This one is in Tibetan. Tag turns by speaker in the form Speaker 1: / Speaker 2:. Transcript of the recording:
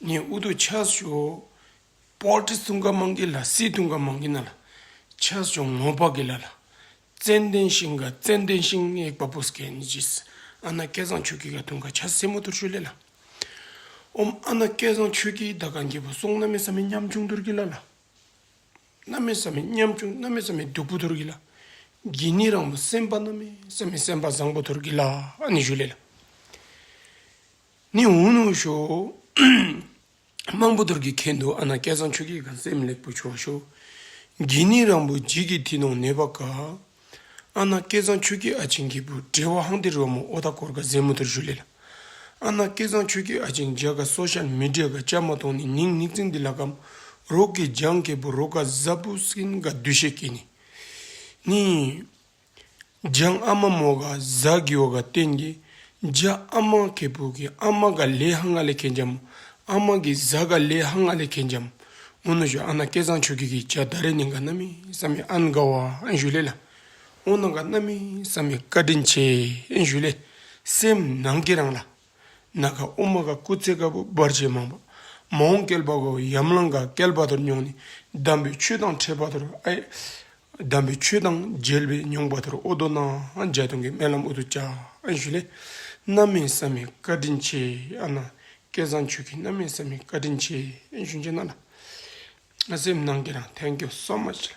Speaker 1: ནས་ཨུ་དུ་ཆ་ཞོ། པོར་ཏི་སུང་ཀ་མང་གི་ལ་སི་ཏུང་ཀ་མང་གི་ན་ལ་ཆ་ཞོ་ངོ་པ་གི་ལ་ལ། ཙན་ལྡན་ཤིང་ག་ཙན་ལྡན་ཤིང་ཨེ་ཀ་པོ་སི་ཀ་ཨན་ཇི་སི་ཨ་ན་སྐལ་བཟང་ཆོས་ཀི་ག་ཏུང་ཀ་ཆ་སེ་མོ་ཏུར་ཤོ་ལེ་ལ། ཨོམ་ཨ་ན་སྐལ་བཟང་ཆོས་ཀི་ད་ག་འགྱེད་པོ་སོང་ན་མེ་ས་མེ་མཉམ་ཆུང་ཏུར་གི་ལ་ལ། ན་མེ་ས་མེ་མཉམ་ཆུང་ན་མེ་ས་མེ་སྡུག་པོ་ཏུར་གི་ལ། གྱི་ནི་རང་མོ་སེམས་དཔའ་ན་མེ་ས་མེ་སེམས་དཔའ་བཟང་པོ་ཏུར་གི་ལ་ཨ་ནི་ཞུ་ལེ་ལ། ནི་འུ་ནུ་ཤོག། དམངས་པོ་དོར་གི་ཁེ་འདུག་ཨ་ན་སྐལ་བཟང་ཆོས་སྐྱིད་ག་སེམས་ལེགས་པོ་བྱོ་ཤོག། འགྱིག་ནི་རང་བུ་འགྱིག་གི་དེ་ནང་ནད་པ་ག། ཨ་ན་སྐལ་བཟང་ཆོས་སྐྱིད་ཨ་ཆེན་གི་བུ་བྲེ་བ་ཧང་ཏེ་རོ་མོ་ཨོ་ད་གོར་ག་ཟེ་མོ་དོར་ཞུ་ལེ་ལ། ཨ་ན་སྐལ་བཟང་ཆོས་སྐྱིད་ཨ་ཆེན་འཇའ་ག་སོ་ཤ་མི་བྲེ་ག་ཅག་མ་ཐོང་ནི་ནིང་ནིག་ཙིང་འདི་ལ་གམ། རོག་གི་འཇང་གི་བུ་རོ་ག་ཟ་བུ་སིན་ག་བདུད་ཤེ་ཀི་ནི། ནི། ལྗང་ཨ་མ་མོ་ག་ཟ་གི་ཨོ་ག་ཏན་གི་ལྗ་ཨ་མ་གད་པུ་གི་ཨ་མ་ག་ལེ་ཧ་ང་ལེ་གན་ལྗམ་ཨ་མ་གི་ཟ་ག་ལེ་ཧ་ང་ལེ་གན་ལྗམ་ཨོ་ན་ཞུ་ཨ་ན་སྐལ་བཟང་ཆོས་སྐྱིད་གི་ལྗ་ད་རེ་ནི་ག་ན་མི་ས་མི་ཨན་ག་བ་ཨན་ཞུ་ལེ་ལ་ཨོ་ན་ག་ན་མི་ས་མི་བཀའ་དྲིན་ཆེ་ཨན་ཞུ་ལེ་སེམས་ནང་གི་རང་ལ། ནཱ་ག་ཨུ་མ་ག་སྐུ་ཚེ་དཀར་པོ་འབར་བྱེད་མང་པོ། མ་འོངས་བསྐལ་པ་འགའ་བའི་ཡམ་ལང་འགའ་བསྐལ་པ་དོར་མྱོང་ནས་གདམས་པའི་ཆོས་དང་འཕྲད་པ་དོར་ཨེ། གདམས་པའི་ཆོས་དང་མཇལ་བས་མྱོང་པ་དོར་ཨོ་དོ་ན་འཇའ་སྟོང་གི་སྨན་ལམ་ཨུ་དུ་ཅག་ཨེ་ཞུ་ལེ། རྣམ་མེད་བསམ་མེད་བཀའ་དྲིན་ཆེ་ཨ་ནཱ་སྐལ་བཟང་ཆོས་ཀྱི་རྣམ་མེད་བསམ་མེད་བཀའ་དྲིན་ཆེ་ཨེ་ཞུ་མཇལ་ན་ལ། སེམས་ནང་གི་རང་ཐལ་འགྱོད་གསོག་མ་བྱེད།